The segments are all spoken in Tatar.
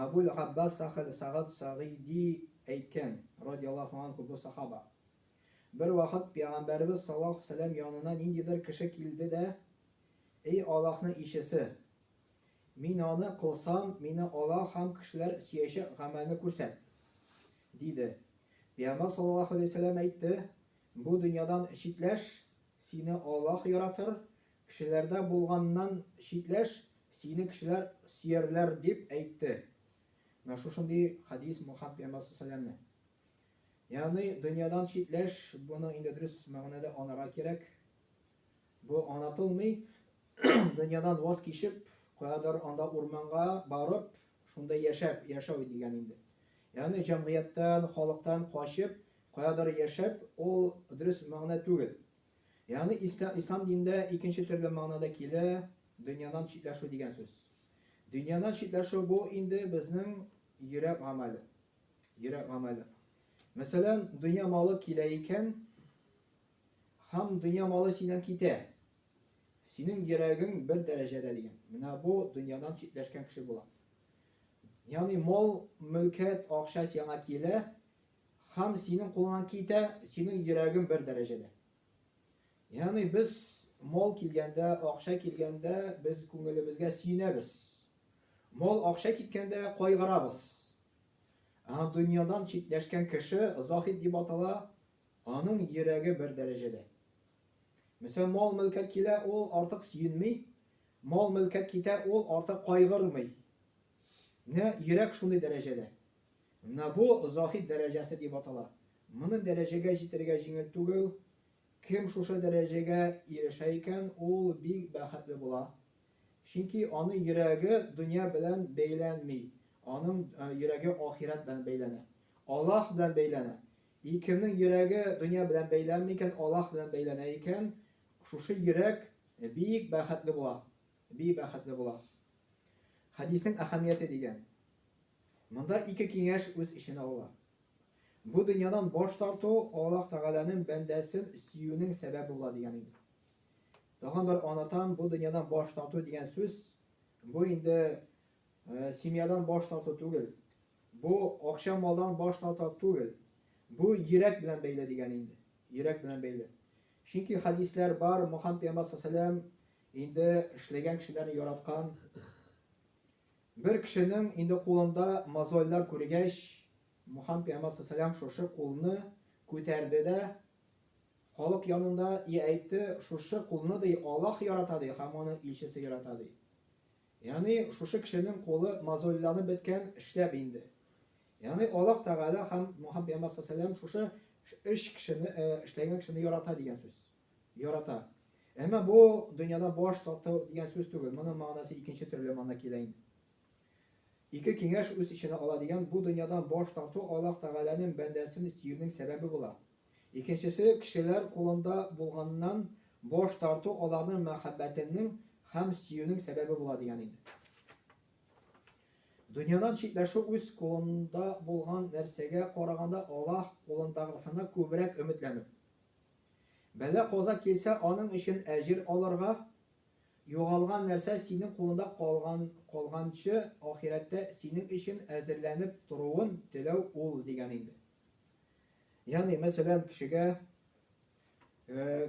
Әбүл-Габбас Сәхел Сәгъд Сәгыйди әйткән, радияллаһу анһу, бу сахаба, Бервакыт пәйгамбәребез саллаллаһу сәләм янына ниндидер кеше килде дә, Эй Аллаһның илчесе! Мин аны кылсам, мине Аллаһ һәм кешеләр сөячәк гамәлне күрсәт! диде. Пәйгамбәр саллаллаһу галәйһи вә сәлләм әйтте, Бу дөньядан читләш, сине Аллаһ яратыр, Кешеләрдә булганнан читләш, сине кешеләр сөярләр, дип әйтте. Менә шушындый хәдис Мухаммад пәйгамбәр салләлләһу Ягъни дөньядан читләш, буның инде дөрес мәгънәдә анарга кирәк. Бу анатылмый, дөньядан ваз кичеп, каядыр анда урманга барып, шунда яшәп, яшәү дигән инде. Ягъни җәмгыятьтән, халыктан качып, каядыр яшәп, ул дөрес мәгънә түгел. Ягъни ислам динендә икенче төрле мәгънә дә килә, дөньядан читләшү дигән сүз. Дөньядан читләшү бу инде безнең йөрәк гамәле. Йөрәк гамәле. Мәсәлән, дөнья малы килә икән, һәм дөнья малы синнән китә. Синең йөрәгең бер дәрәҗәдә дигән. Менә бу дөньядан читләшкән кеше була. Ягъни мал, мөлкәт, акча сиңа килә, Хам синең кулыңнан китә, синең йөрәгең бер дәрәҗәдә. Ягъни без мол килгәндә, акча килгәндә без күңелебезгә сөенәбез. Мол акча киткәндә кайгырабыз. Ә дөньядан читләшкән кеше заһид дип атала, аның йөрәге бер дәрәҗәдә. Мәсәлән, мол мөлкәт килә, ул артык сөенми, мол мөлкәт китә, ул артык кайгырмый. Менә йөрәк шундый дәрәҗәдә. Менә бу заһид дәрәҗәсе дип атала. Моны дәрәҗәгә җитәргә җиңел түгел. Кем шушы дәрәҗәгә ирешә икән, ул бик бәхетле була. Чөнки аның йөрәге дөнья белән бәйләнми, аның йөрәге ахирәт белән бәйләнә. Аллаһ белән бәйләнә. И кемнең йөрәге дөнья белән бәйләнми икән, Аллаһ белән бәйләнә икән, шушы йөрәк бик бәхетле була. би бәхетле була. Хәдиснең әһәмияте дигән. Монда ике киңәш үз эченә ала. Бу дөньядан баш тарту Аллаһ Тәгаләнең бәндәсен сөюнең сәбәбе була дигән инде. Тагын бер анатам бу дөньядан баш тарту дигән сүз бу инде э, семьядан баш тарту түгел. Бу акча малдан баш тарту түгел. Бу йөрәк белән бәйле дигән инде. Йөрәк белән бәйле. Чөнки хәдисләр бар, Мухаммед пәйгамбәр саллаллаху Инде эшләгән кешеләрне яраткан бер кешенең инде кулында мозольлар күргәч, Мухаммад пәйгамбәр саллаллаху шушы кулны күтәрде дә халык янында и әйтте, шушы кулны ди Аллаһ ярата ди һәм аны илчесе ярата ди. Ягъни шушы кешенең кулы мозольланып беткән, эшләп инде. Ягъни Аллаһ Тәгалә һәм Мухаммад пәйгамбәр саллаллаху шушы эш кешене, эшләгән кешене ярата дигән сүз. Ярата. Әмма бу дөньяда баш тарту дигән сүз түгел. Моның мәгънәсе икенче төрле мана килә инде. Ике киңәш үз эченә ала дигән бу дөньядан баш тарту Аллаһ Тәгаләнең бәндәсен сөюнең сәбәбе була. Икенчесе кешеләр кулында булганнан баш тарту аларның мәхәббәтенең һәм сөюнең сәбәбе була дигән инде. Дөньядан читләшү үз кулында булган нәрсәгә караганда Аллаһ кулындагысына күбрәк өметләнү. Бәла-каза килсә, аның өчен әҗер алырга, югалган нәрсә синең кулыңда калган, калганчы ахирәттә синең өчен әзерләнеп торуын теләү ул, дигән инде. Ягъни, мәсәлән, кешегә,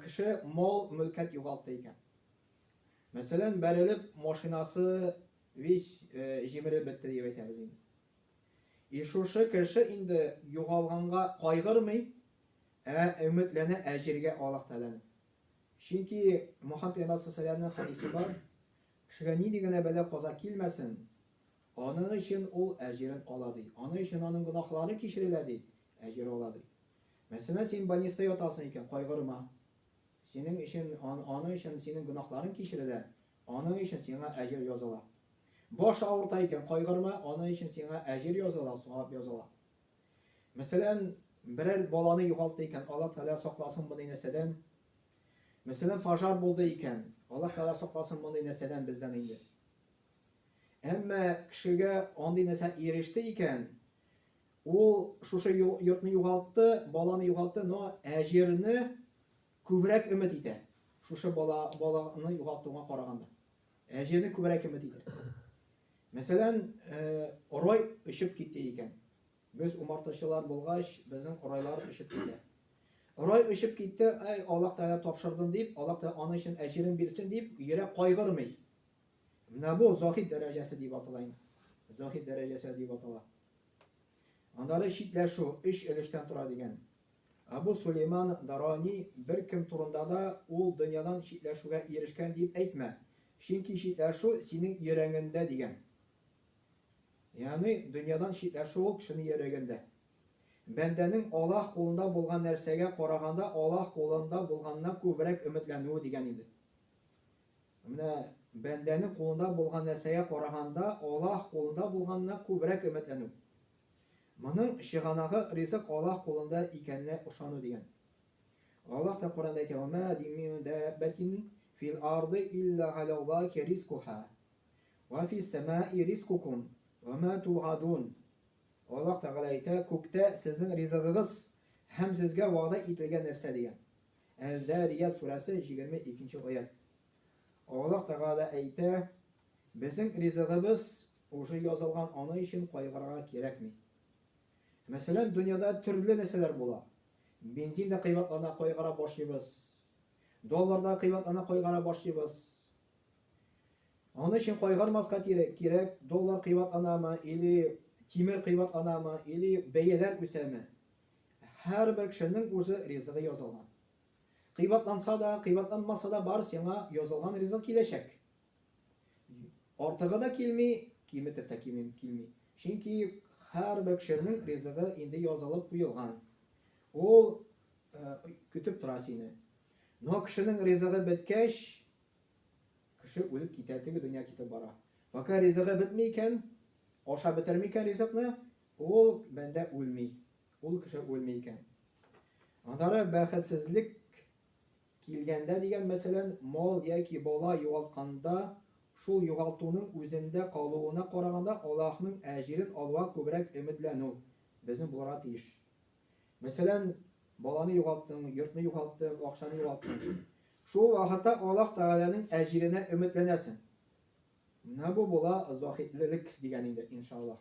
кеше мал-мөлкәт югалта икән. Мәсәлән, бәрелеп, машинасы весь җимереп бетте дип әйтәбез инде. И шушы кеше инде югалганга кайгырмый, Ә өметләнә әҗергә Аллаһ Тәгаләнең. Чөнки Мохаммәд пәйгамбәр сәлләһү галәйһи ва сәлләмнең хәдисе бар, Кешегә нинди генә бәла-каза килмәсен, аның өчен ул әҗерен ала, ди. Аның өчен аның гөнаһлары кичерелә, ди, әҗер ала, ди. Мәсәлән, син больниста ятасың икән, кайгырма. Синең өчен, аның өчен синең гөнаһларың кичерелә, аның өчен сиңа әҗер языла. Баш авырта икән, кайгырма, аның өчен сиңа әҗер языла, савап языла. Мәсәлән, берәр баланы югалты икән, Аллаһ Тәгалә сакласын мондый нәрсәдән. Мәсәлән, пожар булды икән, Аллаһ Тәгалә сакласын мондый нәрсәдән бездән инде. Әмма кешегә андый нәрсә иреште икән, ул шушы йортны югалтты, баланы югалтты, но әҗерне күбрәк өмет итә. Шушы бала баланы югалтуга караганда. Ә җирне күбрәк кем бетидер? Мәсәлән, орай өшеп китте икән. Без умартачылар булгач, безнең орайлар өшеп китә. Орай өшеп китте, ай, Аллаһ Тәгалә тапшырдым дип, Аллаһ Тәгалә аны өчен әҗерен бирсен дип, йөрәк кайгырмый. Менә бу заһид дәрәҗәсе дип атала инде. Заһид дәрәҗәсе дип атала. Аннары читләшү, өч өлештән тора дигән. Абу Сулейман Дарани беркем турында да ул дөньядан читләшүгә ирешкән дип әйтмә, чөнки читләшү синең йөрәгеңдә дигән. Ягъни, дөньядан читләшү ул кешенең йөрәгендә. Бәндәнең Аллаһ кулында булган нәрсәгә караганда Аллаһ кулында булганына күбрәк өметләнүе дигән иде. Менә бәндәнең кулында булган нәрсәгә караганда Аллаһ кулында булганына күбрәк өметләнү. Моның чыганагы ризык Аллаһ кулында икәненә ышану дигән. Аллаһ та Коръәндә әйтә, Ва ма дим мин дәббәтин фил арды илля галяллаһи ризкуһа, ва фис сәмаи ризкукум, ва ма тугадун. Аллаһ Тәгалә әйтә, Күктә сезнең ризыгыгыз һәм сезгә вәгъдә ителгән нәрсә дигән. Әз-Зәрият сүрәсе, җигерме икенче аять. Аллаһ Тәгалә әйтә, Безнең ризыгыбыз Уже язылган аны өчен кайгырырга кирәкми. Мәсәлән, дөньяда төрле нәрсәләр була. Бензин дә кыйбатлана кайгыра башлыйбыз. Доллар да кыйбатлана кайгыра башлыйбыз. Аны өчен кайгырмаска кирәк, кирәк доллар кыйбатланамы или тимер кыйбатланамы или бәяләр үсәме. Һәрбер кешенең уже ризыгы язылган. Кыйбатланса да, кыйбатланмаса да бар сиңа язылган ризык киләчәк. Артыгы да килми, киметеп тә килми. Чөнки һәрбер кешенең ризыгы инде язылып куелган. Ул көтеп тора сине. Но кешенең ризыгы беткәч, кеше үлеп китә, теге дөнья китеп бара. Пока ризыгы бетми икән, аша бетерми икән ризыкны, ул бәндә үлми. Ул кеше үлми икән. Аннары бәхетсезлек Килгәндә дигән мәсәлән, мал яки бала югалтканда, шул югалтуның үзендә калуына караганда Аллаһның әҗирен алуга күбрәк өметләнү безнең булырга тиеш. Мәсәлән, баланы югалттың, йортны югалттың, акчаны югалттың. Шул вакытта Аллаһ Тәгаләнең әҗиренә өметләнәсең. Менә бу була заһидлелек дигән инде, иншаллаһ.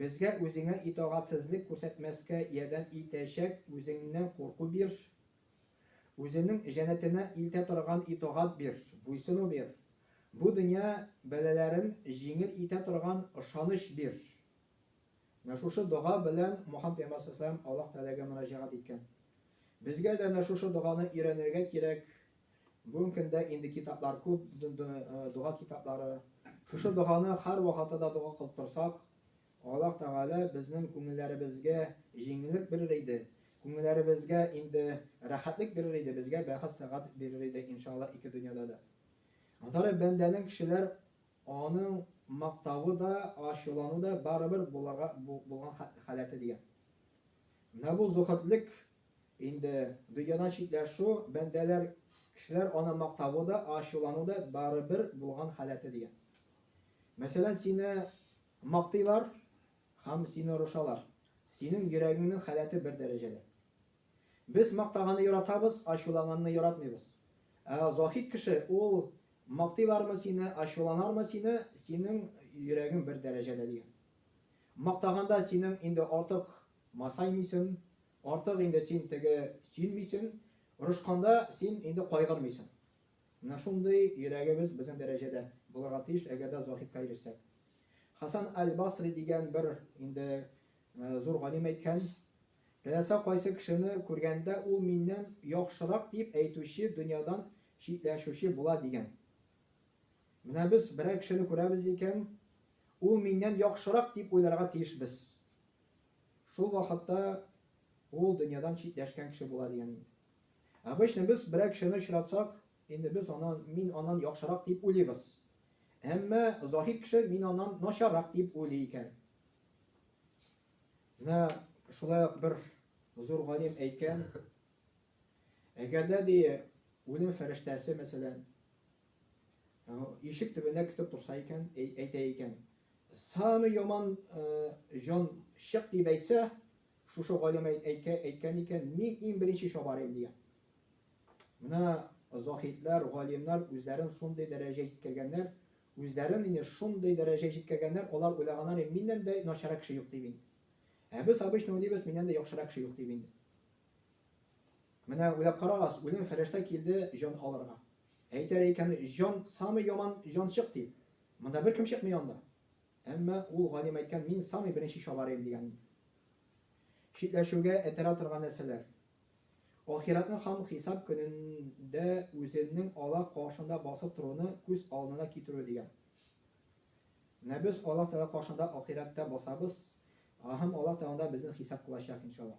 Безгә үзеңә итагатьсезлек күрсәтмәскә ярдәм итәчәк үзеңнән курку бир. Үзенең җәннәтенә илтә торган итагать бир, буйсыну бир. Бу дөнья бәлаләрен җиңел итә торган ышаныч бир. Менә шушы дога белән Мухаммад пәйгамбәр саллаллаһу галәйһи ва сәлләм Аллаһ Тәгаләгә мөрәҗәгать иткән. Безгә дә менә шушы доганы өйрәнергә кирәк, Бүгенге көндә инде китаплар күп, дога китаплары. Шушы доганы һәрвакытта да дога кылып торсак, Аллаһ Тәгалә безнең күңелләребезгә җиңеллек бирер иде, күңелләребезгә инде рәхәтлек бирер иде, безгә бәхет сәгать бирер иде, иншалла, ике дөньяда да. Андары бәндәнең кешеләр аның мактавы да, ачулану да барыбер буларга булган халәте дигән. Менә бу зөхетлек Инде дөньядан читләшү, бәндәләр, кешеләр аны мактавы да, ачулану да барыбер булган халәте, дигән. Мәсәлән, сине мактыйлар һәм сине орышалар, синең йөрәгеңнең халәте бер дәрәҗәдә. Без мактаганны яратабыз, ачуланганны яратмыйбыз. Ә заһид кеше, ул мактыйлармы сине, ачуланармы сине, синең йөрәгең бер дәрәҗәдә, дигән. Мактаганда синең инде артык Масаймыйсын, артык инде син теге сөенмисен, орышканда син инде кайгырмыйсын. Менә шундый йөрәгебез безнең дәрәҗәдә булырга тиеш, әгәр дә заһидка ирешсәк. Хәсән әл-Басри дигән бер инде зур галим әйткән, Теләсә кайсы кешене күргәндә ул миннән яхшырак дип әйтүче дөньядан читләшүче була дигән. Менә без берәр кешене күрәбез икән, ул миннән яхшырак дип уйларга тиешбез. Шул вакытта ул дөньядан читләшкән кеше була дигән инде. Обычно без берәр кешене очратсак, инде без анан, мин аннан яхшырак дип уйлыйбыз. Әмма заһид кеше мин аннан начаррак дип уйлый икән. Менә шулай ук бер зур галим әйткән, әгәр дә ди үлем фәрештәсе мәсәлән Ишек төбенә көтеп торса икән, әйтә икән, самый яман җан чык дип әйтсә, шушы галим әйткән икән, мин иң беренче чабар идем дигән. Менә заһидләр, галимнәр үзләрен шундый дәрәҗә җиткергәннәр, үзләрен инде шундый дәрәҗә җиткергәннәр, алар уйлаганнар, миннән дә начарак кеше юк дип инде. Ә без обычно уйлыйбыз, миннән дә яхшырак кеше юк дип инде. Менә уйлап карагыз, үлем фәрештә килде җан алырга. Әйтәр икән, җан самый яман җанчык дип. Монда беркем чыкмый анда. Әмма ул галим әйткән, мин самый беренче чабарыйм дигәнен. Читләшүгә этәрә торган нәрсәләр. Ахиратны һәм хисап көнендә үзенең Аллаһ каршында басып торуны күз алдына китерү дигән. Менә без Аллаһ Тәгалә каршында ахирәттә басабыз һәм Аллаһ Тәгалә безне хисап кылачак, иншаллаһ.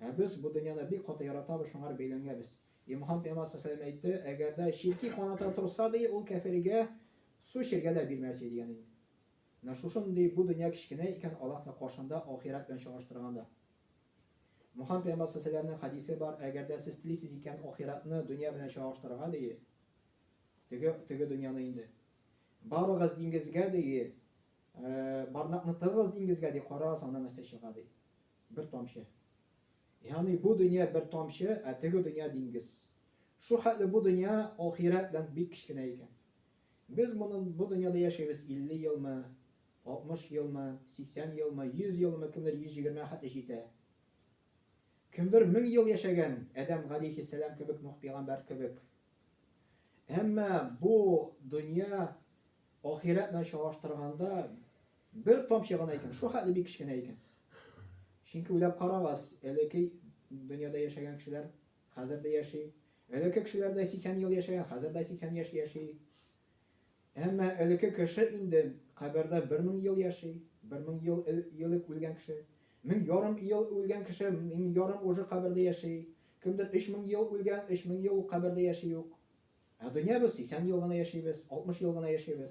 Ә без бу дөньяны бик каты яратабыз, шуңа р бәйләнгәбез. И Мухампйамаз сасаләм әйтте, Әгәр дә чирки каната торса, ди, ул кәфиргә су эчәргә дә бирмәс иде, ягъни, менә шушындый бу дөнья кечкенә икән Аллаһның каршында ахирәт белән чагыштырганда. Мухампйамаз сасаләмнең хәдисе бар, Әгәр дә сез телисез икән ахирәтне дөнья белән чагыштырырга, ди, теге, теге дөньяны инде. Барыгыз диңгезгә, ди, бармакны тыгыгыз диңгезгә, ди, карагыз, аннан нәрсә чыга, ди. Бер тамчы. Ягъни бу дөнья бер тамчы, ә теге дөнья диңгез. Шул хәтле бу дөнья ахирәт белән бик кечкенә икән. Без моны бу дөньяда яшибез 50 елмы, 60 елмы, 80 елмы, 100 елмы, кемдер 120 хәтле җитә. Кемдер 1000 ел яшәгән, Адәм галейхиссәлам кебек, Нух пәйгамбәр кебек. Әмма бу дөнья ахирәт белән чагыштырганда Бер тамчы гына икән, шул хәтле бик кечкенә икән. Чөнки уйлап карагыз, элекке дөньяда яшәгән кешеләр хәзер дә яши. Элекке кешеләр дә 80 ел яшәгән, хәзер дә 80 яшь яши. Әмма элекке кеше инде кабердә 1000 ел яши, 1000 ел элек үлгән кеше. 1000 ярым ел үлгән кеше, 1000 ярым уже кабердә яши. Кемдер 3000 ел үлгән, 3000 ел кабердә яши юк. Ә дөнья без 80 ел гына яшибез, 60 ел гына яшибез.